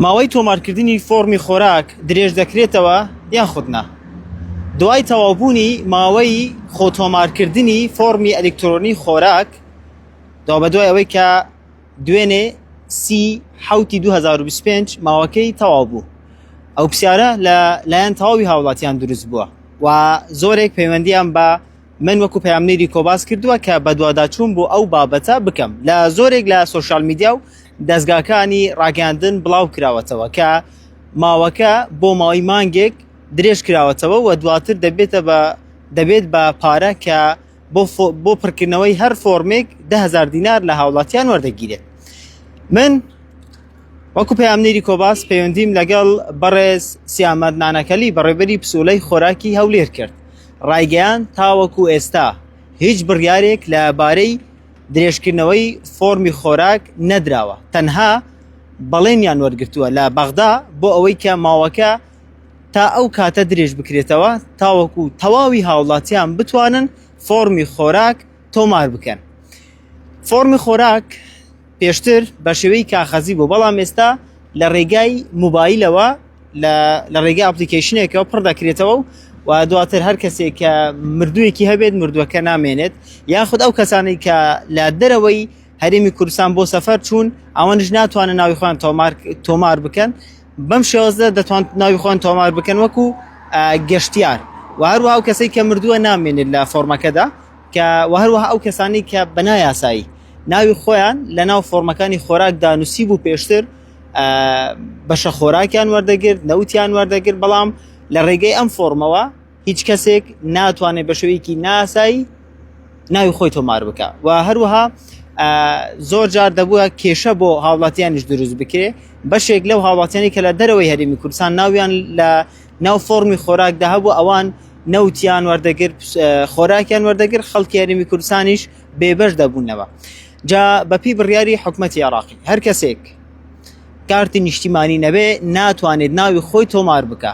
ماوەی تۆمارکردنی فۆرمی خۆراک درێژ دەکرێتەوە یان خودنا دوای تەوابوونی ماوەی خۆتۆمارکردنی فۆرمی ئەلکترۆنی خۆراک دا بە دوای ئەوەی کە دوێنێ سی حوتی 2025 ماوەکەی تەواو بوو ئەو پرسیارە لە لایەن تەواوی هاوڵاتیان دروست بووە و زۆرێک پەیوەندیان بە من وەکو پەیامنێری کۆ باس کردووە کە بەدواداچوون بۆ ئەو بابەتە بکەم لە زۆرێک لە سوۆشال میدیا و دەستگاکانی ڕاگەاندن بڵاو کراوەتەوە کە ماوەکە بۆ ماوەی مانگێک درێژ کراوەتەوە و دواتر دەبێتە بە دەبێت بە پارە کە بۆ پڕکردنەوەی هەر فۆرمێک دههزار دینار لە هاوڵاتیان وەردەگیرێت من وەکو پەیامنێری کۆباس پەیوەندیم لەگەڵ بەڕێز سیامەت نانەکەلی بەڕێبەری پسولەی خۆراکی هەولێر کرد ڕایگەیاند، تاوەکو ئێستا هیچ بڕیارێک لە بارەی درێژکردنەوەی فۆڕمی خۆراک نەدراوە، تەنها بەڵێنیان وەرگرتووە لە بەغدا بۆ ئەوەی کە ماوەکە تا ئەو کاتە درێژبکرێتەوە تاوەکو تەواوی هاوڵاتیان بتوانن فۆڕمی خۆراک تۆمار بکەن فۆرمی خۆراک پێشتر بە شێوەی کاخەزی بوو بەڵام ئێستا لە ڕێگای موبایلەوە لە ڕێگە ئەپلیکیشنێکەوە پڕ دەکرێتەوە و و دواتر هەر کەسێک کە مردوویەکی هەبێت مردووەکە نامێنێت یاخود ئەو کەسانی کە لە دەرەوەی هەرێمی کوردستان بۆ سەفەر چوون ئەوانش ناتوانن ناوی خۆیان تۆمار بکەن بەم شێوەزە دەتوان ناوی خۆیان تۆمار بکەن وەکو گەشتیار و هەروە ئەو کەسەی کە مردووە نامێنێت لە فۆرمەکەدا کە هەروەها ئەو کەسانی کە بەنایاسایی ناوی خۆیان لە ناو فۆرمەکانی خۆراکدا نووسی بوو پێشتر بەشە خۆراکیان وەردەگرت نەوتیان وەردەگرت بەڵام لە ڕێگەی ئەم فۆرمەوە هیچ کەسێک ناتوانێت بە شوەیەکی ناسایی ناوی خۆی تۆمار بکە و هەروەها زۆر جار دەبووە کێشە بۆ هاوڵاتیانیش دروست بکرێ بەشێک لەو هاوڵاتیانی کە لە دەرەوەی هەرمی کوردستان ناویان لە ناو فۆرمی خۆراکدا هەبوو ئەوان نەوتیان وەردەگر خۆراکیان وەردەگر خەڵکی هەرمی کوردستانیش بێبەش دەبوونەوە جا بەپی بڕیاری حکوومەتتی عراقی هەر کەسێک کارتی نیشتیمانی نەبێ ناتوانێت ناوی خۆی تۆمار بکە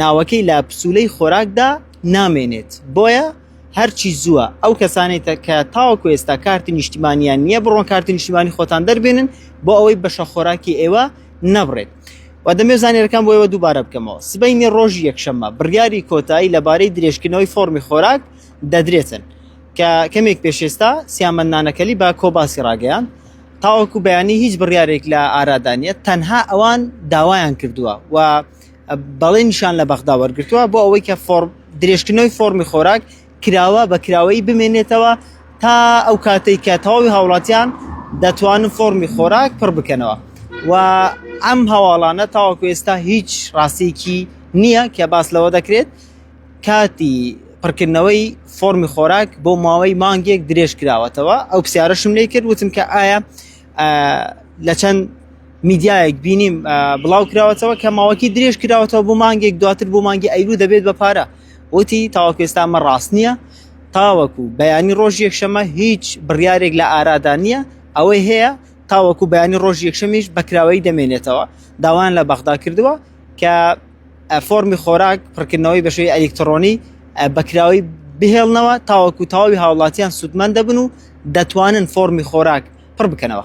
ناوەکەی لە پسوولەی خۆراکدا نامێنێت بۆیە هەرچی زووە ئەو کەسانێت کە تاوەکو ئێستا کارتی نیشتیمانیان نییە بڕۆن کارتی نیشتیمانی خۆتان دەربێنن بۆ ئەوەی بەشە خۆراکی ئێوە نەبڕێت و دەمێ زانێرەکان بۆیەوە دووبارە بکەمەوە سبینی ڕۆژی یەکشەممە بڕیاری کۆتایی لەبارەی درێژکردنەوەی فۆرمی خۆراک دەدرێتن کە کەمێک پێشێستا سیامەندانەکەلی بە کۆباسی ڕاگەیان تاوەکو بەیانی هیچ بڕیارێک لە ئارادانە تەنها ئەوان داوایان کردووە و بەڵێنیشان لە بەغدا وەرگرتووە بۆ ئەوەی کە درێژکردنەوەی فۆرمی خۆراک کراوە بە کراوەیی بمێنێتەوە تا ئەو کاتێک کە تەواوی هاوڵاتیان دەتوانن فۆرمی خۆراک پڕ بکەنەوە و ئەم هەواڵانە تاوەکو ئێستا هیچ ڕاستێکی نییە کە باس لەوە دەکرێت کاتی پڕکردنەوەی فۆرمی خۆراک بۆ ماوەی مانگێک درێژ کراوەتەوە ئەو پرسیارەشم لێ کرد وتم کە ئایا لە چەند میدیایەک بینیم بڵاو کراوەتەوە کە ماوەکی درێژ کراوەتەوە بۆ مانگێک دواتر بۆ مانگی ئەیلو دەبێت بە پارە وتی تاواکوێستامە ڕاست نییە تاوەکو بەیانی ڕۆژ یەکشەمە هیچ بڕیارێک لە ئارادا نییە ئەوەی هەیە تاوەکو بەیانی ڕۆژ یەکشەمیش بەکراوەی دەمێنێتەوە داوایان لە بەغدا کردووە کە فۆرمی خۆراک پڕکردنەوەی بە شێوەی ئەلیکترۆنی بەکراوی بهێڵنەوە تاوەکو تەواوی هاوڵاتیان سوودمەند دەبن و دەتوانن فۆرمی خۆراک پڕ بکەنەوە.